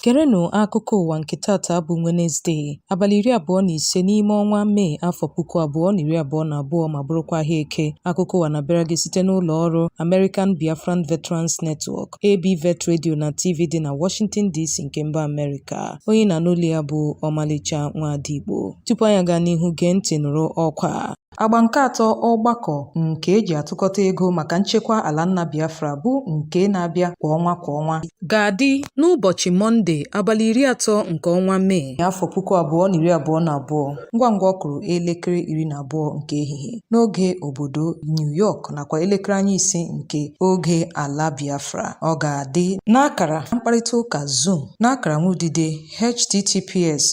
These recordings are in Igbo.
Gerenụ akụkọ ụwa nke tata bụ Wenezde, abalị iri abụọ na ise n'ime ọnwa Mee afọ puku abụọ na iri abụọ na abụọ ma bụrụkwa ahịa eke. Akụkọ ụwa na-abịara gị site n'ụlọ ọrụ American Biafran Veterans Network, ABVET Radio na TV dị na Washington DC nke mba Amerịka. Onye na-anụ olu ya bụ Ọmalịcha Nwaada Igbo. Tupu anyị agaa n'ihu gee ntị nụrụ ọkwa a. Agba nke atọ ọgbakọ nke eji atụkọta ego maka nchekwa ala nna Biafra bụ nke na-abịa kwa ọnwa kwa ọnwa ga-adị n'ụbọchị Mọnde abalị iri atọ nke ọnwa Mee afọ puku abụọ na iri abụọ na abụọ ngwa ngwa ọ kụrụ elekere iri na abụọ nke ehihie n'oge obodo New York nakwa elekere anya ise nke oge ala Biafra ọ ga-adị n'akara mkparịta ụka Zoom n'akara nwa udide https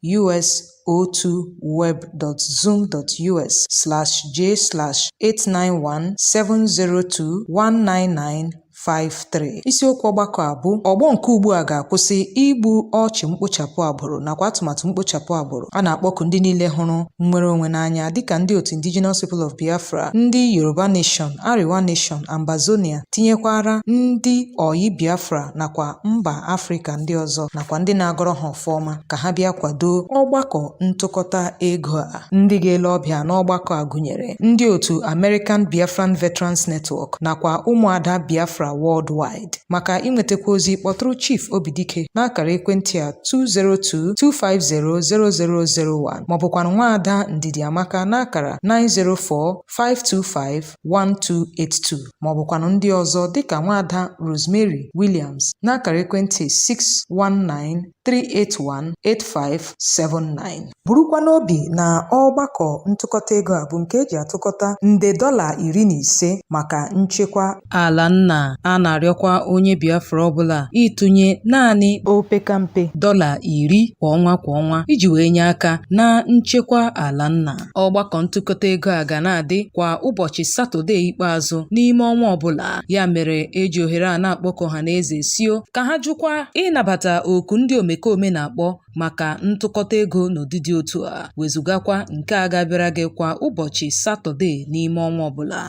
us02web.zoom.us/j/891702199 53 isiokwu ọgbakọ a bụ ọgbọ nke ugbu a ga-akwụsị igbu ọchụ mkpochapụ agbụrụ nakwa atụmatụ mkpochapụ agbụrụ a na-akpọku ndị niile hụrụ nnwere onwe n'anya dịka ndị otu indigenous people of biafra ndị yoruba nation arewa nation ambazonia tinyekwara ndị ọyị biafra nakwa mba afrịka ndị ọzọ nakwa ndị na-agọrọ ha ọma ka ha bịa kwadoo ọgbakọ ntụkọta ego a. Ndị ga-ele ọbịa n'ọgbakọ a gụnyere ndị otu American Biafran Veterans Network nakwa ụmụada Biafra worldwide. Maka inwetakwu ozi kpọtụrụ Chief Obidike n'akara ekwentị a 202-250-0001 maọbụkwanụ nwaada Ndidiamaka n'akara 904-525 1282 ma ọ bụkwanụ ndị ọzọ dịka nwaada Rosemary Williams n'akara ekwentị 619-381-8579 burukwa n'obi na ọgbakọ ntụkọta ego a bụ nke eji atụkọta nde dọla iri na ise maka nchekwa ala nna a na-arịọkwa onye Biafra ọbụla ịtụnye naanị opekampe dọla iri kwa ọnwa kwa ọnwa iji wee nye aka na nchekwa ala nna Ọgbakọ ntụkọta ego a ga na-adị kwa ụbọchị Satọde ikpeazụ n'ime ọnwa ọbụla. Ya mere eji ohere a na-akpọku ọhaneze sio ka ha jụkwa ịnabata oku ndị omekome na-akpọ maka ntụkọta ego n'ụdị dị otu a, wezugakwa nke a ga-abịara gị kwa ụbọchị Satọde n'ime ọnwa ọbụla.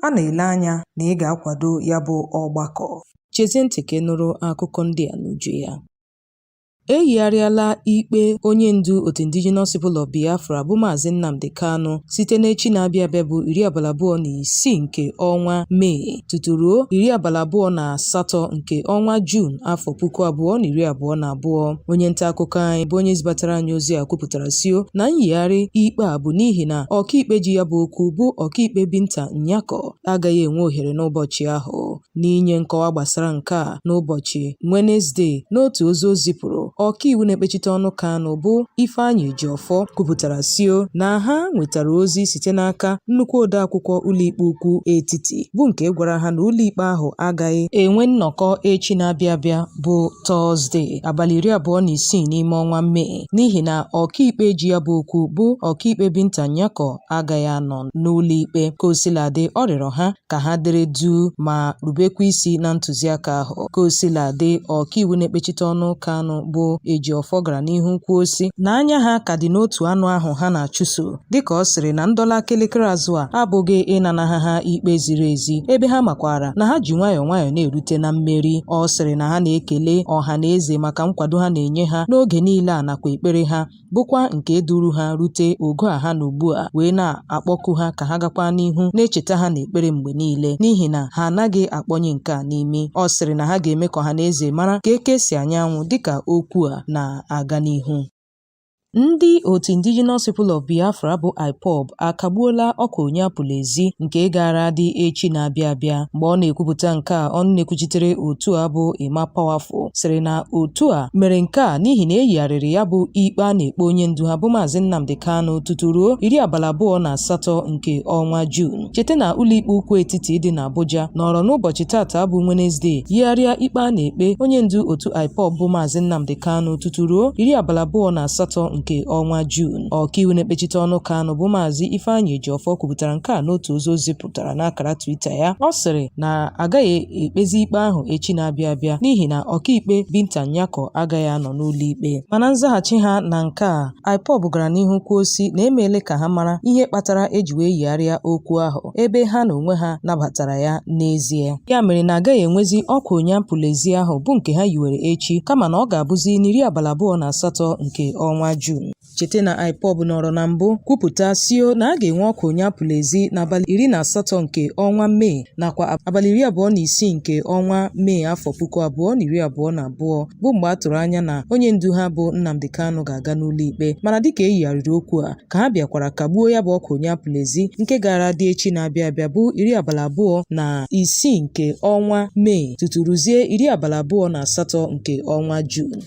A na-ele anya na ị ga-akwado ya bụ ọgbakọ. Chezie ntị ka ị nụrụ akụkọ ndị a n'uju ya. E yigharịala ikpe onye ndu otu Indigenous People of Biafra bụ Maazị Nnamdi Kanu site n'echi na-abịa abịa bụ iri abalị abụọ na isii nke ọnwa Mee tutu ruo iri abalị abụọ na asatọ nke ọnwa Juun afọ puku abụọ na iri abụọ na abụọ. Onye nta akụkọ anyị bụ onye zibatara anyị ozi a kwupụtara sio na nyigharị ikpe a bụ n'ihi na ọkaikpe ji ya bụ okwu bụ ọkaikpe Binta Nyako agaghị enwe ohere n'ụbọchị ahụ. N'inye nkọwa gbasara nke a n'ụbọchị Wenezde n'otu ozi o zipụrụ, ọkaiwu na-ekpechite ọnụ Kanu bụ Ifeanyi Ejiofor kwupụtara sio na ha nwetara ozi site n'aka nnukwu odeakwụkwọ ụlọikpe ukwu etiti bụ nke gwara ha na ụlọikpe ahụ agaghị enwe nnọkọ echi na-abịa abịa bụ Tọzde abalị iri abụọ na isii n'ime ọnwa Mee n'ihi na ọkaikpe ji ya bụ okwu bụ ọkaikpe Binta Nyako agaghị anọ n'ụlọikpe. Kaosiladị, ọ rịọrọ ha ka ha dere duu ma rubekwa isi na ntụziaka ahụ. Kaosiladị, ọkaiwu na-ekpechite ọnụ Kanu bụ Ejiofor gara n'ihu kwuo sị na anya ha ka dị n'otu anụ ahụ ha na-achụso dịka ọ sịrị na ndọla kelekere azụ a abụghị ịnanaha ha ikpe ziri ezi ebe ha makwara na ha ji nwayọọ nwayọọ na-erute na mmeri. Ọ sịrị na ha na-ekele ọha na eze maka nkwado ha na-enye ha n'oge niile a nakwa ekpere ha bụkwa nke duru ha rute ogo a ha nọ ugbu a wee na-akpọku ha ka ha gakwa n'ihu na-echeta ha n'ekpere mgbe niile n'ihi na ha anaghị akpọnye nke a n'imi ọ sịrị na ha ga-eme ka ọha na eze mara ka eke si anya anwụ dịka okwu a na-aga n'ihu Ndị otu Indigenous People of Biafra bụ IPOB akagbuola ọkwa onye apụla ezi nke gaara adị echi na-abịa abịa. Mgbe ọ na-ekwupụta nke a, ọnụ na-ekwuchitere otu a bụ Emma Powerful sịrị na otu a mere nke a n'ihi na eyigharịrị ya bụ ikpe a na-ekpe onye ndu ha bụ Maazị Nnamdi Kanu tutu ruo iri abalị abụọ na asatọ nke ọnwa Juun cheta na ụlọikpe ukwu etiti dị n'Abuja nọrọ n'ụbọchị tata bụ Wenezdee yigharịa ikpe a na-ekpe onye ndu otu IPOB bụ Maazị Nnamdi Kanu tutu ruo iri abalị abụọ na asatọ nke ọnwa Juun ọkaiwu na-ekpechite ọnụ Kanu bụ Maazị Ifeanyi Ejiofor kwupụtara nke a n'otu ozi o zipụ pụtara n'akara Twitter ya. Ọ sịrị na agaghị ekpezi ikpe ahụ echi na-abịa abịa n'ihi na ọkaikpe Binta Nyako agaghị anọ n'ụlọikpe. Mana nzaghachi ha na nke a, IPOB gara n'ihu kwuo sị na emeele ka ha mara ihe kpatara eji wee yigharịa okwu ahụ ebe ha na onwe ha nabatara ya n'ezie. Ya mere na agaghị enwezi ọkwa onye apụla ezi ahụ bụ nke ha yiwere echi kama na ọ ga-abụzi n'iri abalị abụọ na asatọ nke ọnwa Juun. Cheta na IPOB nọrọ na mbụ kwupụta sio na a ga-enwe ọkwa onye apụla ezi n'abalị iri na asatọ nke ọnwa Mee nakwa abalị iri abụọ na isii nke ọnwa Mee afọ puku abụọ na iri abụọ na abụọ bụ mgbe a tụrụ anya na onye ndu ha bụ Nnamdi Kanu ga-aga n'ụlọikpe mana dịka e yigharịrị okwu a ka ha bịakwara kagbuo ya bụ ọkwa onye apụla ezi nke gara dị echi na-abịa abịa bụ iri abalị abụọ na isii nke ọnwa Mee tutu ruzie iri abalị abụọ na asatọ nke ọnwa Juun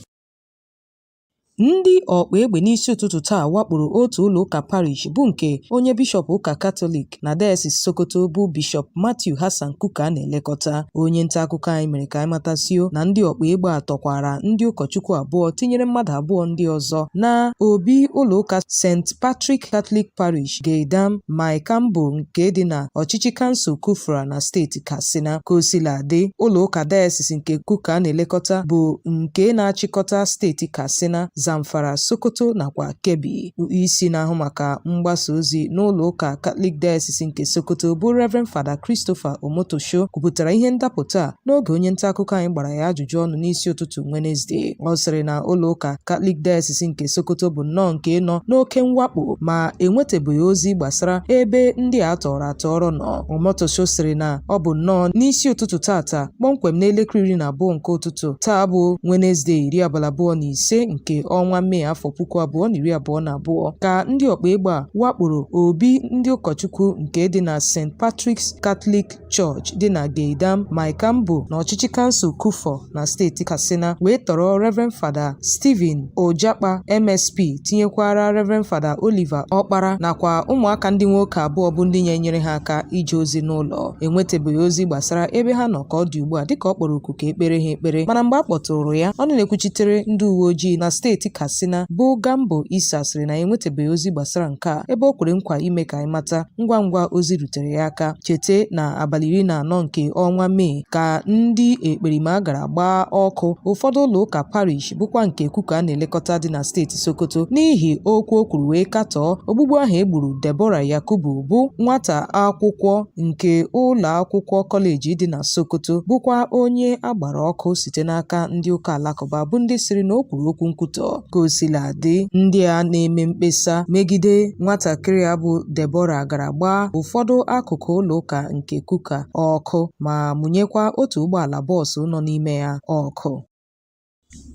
Ndị ọkpa egbe n'isi ụtụtụ taa wakporo otu ụlọ ụka parish bụ nke onye bishọp ụka Katọlik na Dayasis Sokoto bụ Bishọp Matthew Hassan Kukah na-elekọta. Onye nta akụkọ anyị mere ka anyị mata sio na ndị ọkpa egbe a tọkwara ndị ụkọchukwu abụọ tinyere mmadụ abụọ ndị ọzọ na obi ụlọ ụka St. Patrick Catholic Parish Gidan Maikambo nke dị na ọchịchị kansụl Kufra na steeti Katsina. Ka o sila dị, ụlọ ụka dayasis nke Kukah na-elekọta bụ nke na-achịkọta steeti Katsina, Zamfara, Sokoto nakwa Kebbi. Isi na-ahụ maka mgbasa ozi n'ụlọ ụka Katọlik dayasis nke Sokoto bụ Rev. Fada Christopher Omotosho kwupụtara ihe ndapụta a n'oge onye nta akụkọ anyị gbara ya ajụjụ ọnụ n'isi ụtụtụ Wenezde. Ọ sịrị na ụlọ ụka Katọlik dayasis nke Sokoto bụ nnọọ nke nọ n'oke mwakpo ma enwetabeghị ozi gbasara ebe ndị a tọrọ tọọrọ nọ Omotosho sịrị na ọ bụ nnọọ n'isi ụtụtụ tata kpọmkwem n'elekere iri na abụọ nke ụtụtụ taa bụ Wenezde iri abalị abụọ na ise nke ọnwa Mee afọ puku abụọ na iri abụọ na abụọ ka ndị ọkpa egbe a wakporo obi ndị ụkọchukwu nke dị na St Patrick's Catholic Church dị na Gidan Maikambo na ọchịchị kansụl Kufọ na steeti Katsina wee tọrọ Reverend Fada Stephen Ojakpa MSP tinyekwara Reverend Fada Oliver Ọkpara nakwa ụmụaka ndị nwoke abụọ bụ ndị na-enyere ha aka ije ozi n'ụlọ enwetabeghị ozi gbasara ebe ha nọ ka ọ dị ugbu a dịka ọ kpọrọ oku ka e kpeere ha ekpere mana mgbe a kpọtụrụ ya ọnụ na-ekwuchitere ndị uwe ojii na steeti Katsina bụ Gambo Isa sịrị na enwetabeghị ozi gbasara nke a ebe o kwere nkwa ime ka anyị mata ngwa ngwa ozi rutere ya aka chete na abalị iri na anọ nke ọnwa Mee ka ndị ekperima gara gbaa ọkụ ụfọdụ ụlọ ụka parish bụkwa nke kukah na-elekọta dị na steeti sokoto n'ihi okwu o kwuru wee katọọ ogbugbu ahụ e gburu debora yakubu bụ nwata akwụkwọ nke ụlọ akwụkwọ kọleji dị na sokoto bụkwa onye a gbara ọkụ site n'aka ndị ụka alakụba bụ ndị sịrị na o kwuru okwu nkwutọ ka o sila dị ndị a na-eme mkpesa megide nwatakịrị a bụ debora gara gbaa ụfọdụ akụkụ ụlọ ụka nke kukah ọkụ ma mụnyekwa otu ụgbọala bọọsụ nọ n'ime ya ọkụ.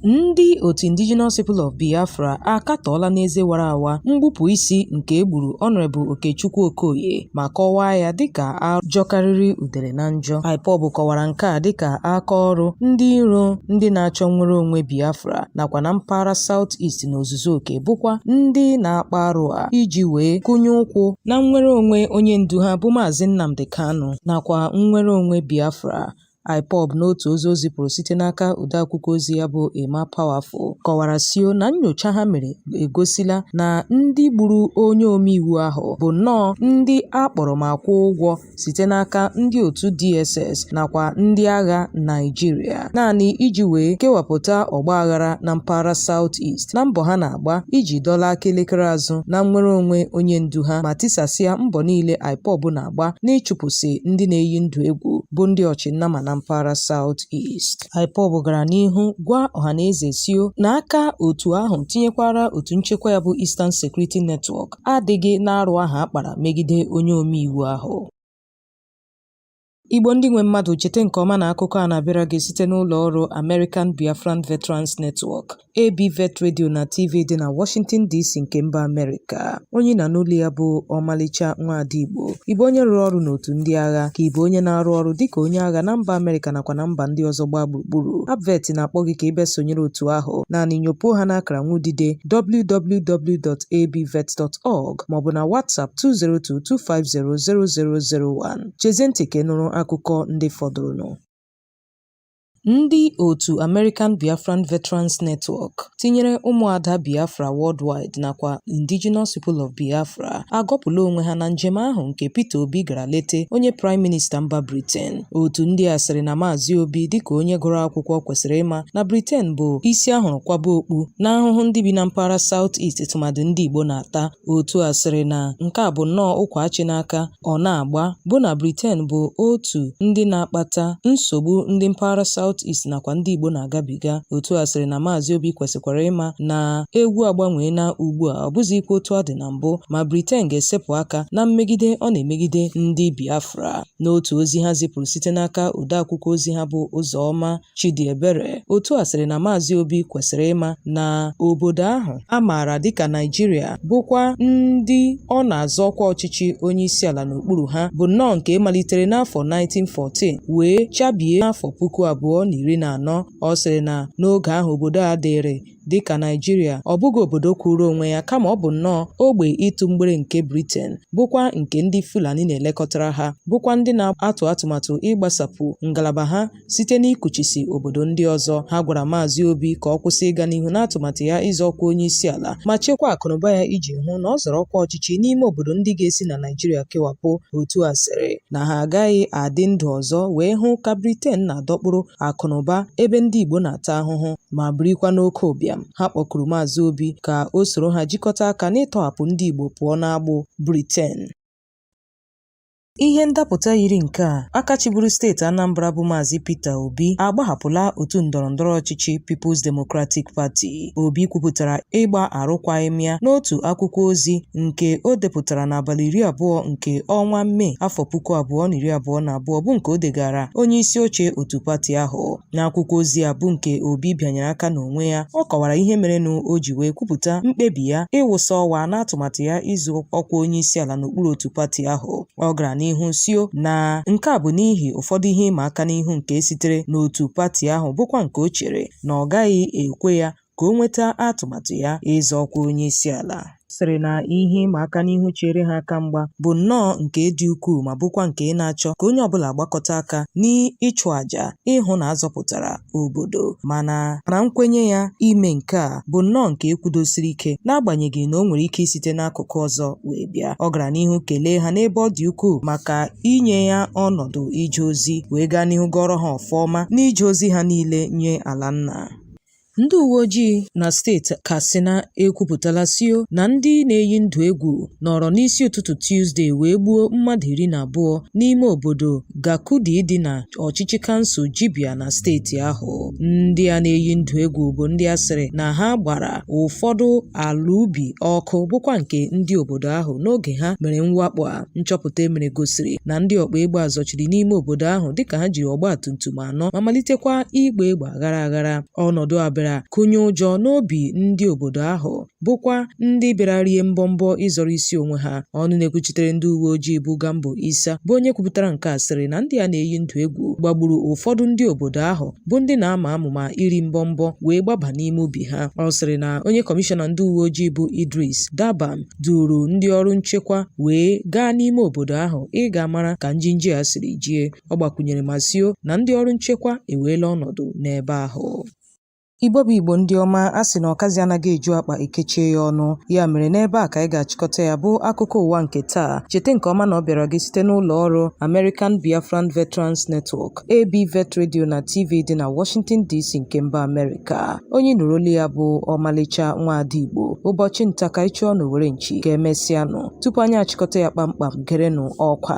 Ndị otu Indigenous People of Biafra akatọọla n'eze wara awa mgbupụ isi nke e gburu Honorable Okechukwu Okoye ma kọwaa ya dịka arụ jọkarịrị udele na njọ. IPOB kọwara nke a dịka aka ọrụ ndị iro ndị na-achọ nnwere onwe Biafra nakwa na mpaghara South East n'ozuzu ozuzu oke bụkwa ndị na-akpa arụ a iji wee kụnye ụkwụ na nnwere onwe onye ndu ha bụ Maazị Nnamdi Kanu nakwa nnwere onwe Biafra IPOB n'otu ozi o zipụrụ site n'aka odeakwụkwọ ozi ya bụ Emma Powerful kọwara sio na nnyocha ha mere egosila na ndị gburu onye omeiwu ahụ bụ nnọọ ndị a kpọrọ ma kwụọ ụgwọ site n'aka ndị otu DSS nakwa ndị agha Naịjirịa naanị iji wee kewapụta ọgbaghara na mpaghara South East na mbọ ha na-agba iji dọla aka elekere azụ na nnwere onwe onye ndu ha ma tisasịa mbọ niile IPOB na-agba n'ịchụpụsị ndị na-eyi ndụ egwu bụ ndị ọchịnnama na mpaghara South East. IPOB gara n'ihu gwa ọhaneze sio na aka otu ahụ tinyekwara otu nchekwa ya bụ Eastern Security Network adịghị n'arụ ahụ a kpara megide onye omeiwu ahụ. Igbo ndị nwe mmadụ chete nke ọma na akụkọ a na-abịara gị site n'ụlọ ọrụ American Biafran Veterans Network, ABVET Radio na TV dị na Washington DC nke mba Amerịka. Onye ị na-anụ olu ya bụ Ọmalịcha Nwaada Igbo. Ị bụ onye rụrụ ọrụ n'otu ndị agha ka ị bụ onye na-arụ ọrụ dịka onye agha na mba Amerịka nakwa na mba ndị ọzọ gbaa gburugburu. ABVET na-akpọ gị ka ị bịa sonyere otu ahụ. Naanị nyopuo ha n'akara nwudide www.abvet.org maọbụ na WhatsApp 2022500001. Chezie ntị ka ị nụrụ akụkọ ndị fọdụrụnụ. Ndị otu American Biafran Veterans Network, tinyere ụmụada Biafra worldwide nakwa Indigenous People of Biafra, agọpụla onwe ha na njem ahụ nke Peter Obi gara lete onye Praịm Minista mba Briten. Otu ndị a sịrị na Maazị Obi dịka onye gụrụ akwụkwọ kwesịrị ịma na Briten bụ isi a hụrụ kwaba okpu na ahụhụ ndị bi na mpaghara South East tụmadị ndị Igbo na-ata. Otu a sịrị na nke a bụ nnọọ ụkwa achị n'aka ọ na-agba bụ na Briten bụ otu ndị na-akpata nsogbu ndị mpaghara South East nakwa ndị Igbo na-agabiga. Otu a sịrị na Maazị Obi kwesịkwara ịma na egwu agbanweela ugbu a ọ bụzịkwa otu ọ dị na mbụ ma Briten ga-esepụ aka na mmegide ọ na-emegide ndị Biafra. N'otu ozi ha zipụrụ site n'aka odeakwụkwọ ozi ha bụ Ụzọma Chidiebere, otu a sịrị na Maazị Obi kwesịrị ịma na obodo ahụ a maara dịka Naịjirịa bụkwa ndị ọ na-azọ ọkwa ọchịchị onyeisiala n'okpuru ha bụ nnọọ nke malitere n'afọ 1914 wee chabie n'afọ puku abụọ na iri na anọ. Ọ sịrị na n'oge ahụ obodo a dịịrị Dị ka Naịjirịa, ọ bụghị obodo kwụụrụ onwe ya kama ọ bụ nnọọ ogbe ịtụ mgbere nke Briten, bụkwa nke ndị Fulani na-elekọtara ha, bụkwa ndị na-atụ atụmatụ ịgbasapụ ngalaba ha site n'ikuchisi obodo ndị ọzọ. Ha gwara Maazị Obi ka ọ kwụsị ịga n'ihu n'atụmatụ ya ịzọ ọkwa onyeisiala ma chekwaa akụnụba ya iji hụ na ọ zọrọ ọkwa ọchịchị n'ime obodo ndị ga-esi na Naịjirịa kewapụ, otu a sịrị na ha agaghị adị ndụ ọzọ wee hụ ka Briten na-adọkpụrụ akụnụba ebe ndị Igbo na-ata ahụhụ. ma birikwa n'oke ụbịam. Ha kpọkuru Maazị Obi ka o soro ha jikọta aka n'ịtọhapụ ndị Igbo pụọ n'agbụ Briten. Ihe ndapụta yiri nke a, aka chịburu steeti Anambra bụ Maazị Peter Obi agbahapụla otu ndọrọndọrọ ọchịchị People's Democratic Party. Obi kwupụtara ịgba arụkwaghịm ya n'otu akwụkwọ ozi nke o depụtara n'abalị iri abụọ nke ọnwa Mee afọ puku abụọ na iri abụọ na abụọ bụ nke o degaara onye isi oche otu pati ahụ. N'akwụkwọ ozi a bụ nke Obi bịanyere aka n'onwe ya, ọ kọwara ihe merenụ o ji wee kwupụta mkpebi ya ịwụsa ọwa n'atụmatụ ya ịzọ ọkwa onyeisiala n'okpuru otu pati ahụ. Ọ gara n'ihu sio na nke a bụ n'ihi ụfọdụ ihe ịma aka n'ihu nke sitere n'otu pati ahụ bụkwa nke o chere na ọ gaghị ekwe ya ka o nweta atụmatụ ya ịzọ ọkwa onyeisiala. sịrị na ihe ịma aka n'ihu chere ha aka mgba bụ nnọọ nke dị ukwuu ma bụkwa nke na-achọ ka onye ọbụla gbakọta aka n'ịchụ àjà ịhụ na a zọpụtara obodo mana na nkwenye ya ime nke a bụ nnọọ nke e kwudosiri ike n'agbanyeghị na o nwere ike isite n'akụkụ ọzọ wee bịa ọ gara n'ihu kelee ha n'ebe ọ dị ukwuu maka inye ya ọnọdụ ije ozi wee gaa n'ihu gọọrọ ha ọfọ ọma n'ije ozi ha niile nye ala nna Ndị uwe ojii na steeti Katsina ekwupụtala sio na ndị na-eyi ndụ egwu nọrọ n'isi ụtụtụ Tuzde wee gbuo mmadụ iri na abụọ n'ime obodo Gakudi dị na ọchịchị kansụl Jibia na steeti ahụ. Ndị a na-eyi ndụ egwu bụ ndị a sịrị na ha gbara ụfọdụ ala ubi ọkụ bụkwa nke ndị obodo ahụ n'oge ha mere mwakpo a. Nchọpụta e mere gosiri na ndị ọkpa egbe a zọchiri n'ime obodo ahụ dịka ha jiri ọgbatumtum anọ ma malitekwa ịgba egbe aghara aghara. Ọnọdụ a bịara kụnye ụjọ n'obi ndị obodo ahụ bụkwa ndị bịara rie mbọmbọ ịzọrọ isi onwe ha. Ọnụ na-ekwuchitere ndị uwe ojii bụ Gambo Isa bụ onye kwupụtara nke a sịrị na ndị a na-eyi ndụ egwu gbagburu ụfọdụ ndị obodo ahụ bụ ndị na-ama amụma iri mbọmbọ wee gbaba n'ime ubi ha. Ọ sịrị na onye kọmishọna ndị uwe ojii bụ Idris Dabam duuru ndị ọrụ nchekwa wee gaa n'ime obodo ahụ ịga mara ka njinji a siri jie. Ọ gbakwunyere ma sio na ndị ọrụ nchekwa eweela ọnọdụ n'ebe ahụ. Igbo bụ Igbo ndị ọma, a sị na ọkazị anaghị eju akpa e kechie ya ọnụ. Ya mere n'ebe a ka anyị ga-achịkọta ya bụ akụkọ ụwa nke taa. Cheta nke ọma na ọ bịara gị site n'ụlọ ọrụ American Biafran Veterans Network, ABVET Radio na TV dị na Washington DC nke mba Amerịka. Onye nụrụ olu ya bụ ọmalịcha nwaada Igbo. Ụbọchị nta ka ị chụọ n'owere nchi. Ka emesịanụ. Tupu anyị achịkọta ya kpamkpam, gerenụ ọkwa.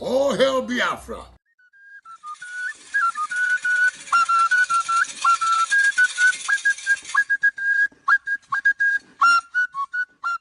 All hail Biafra!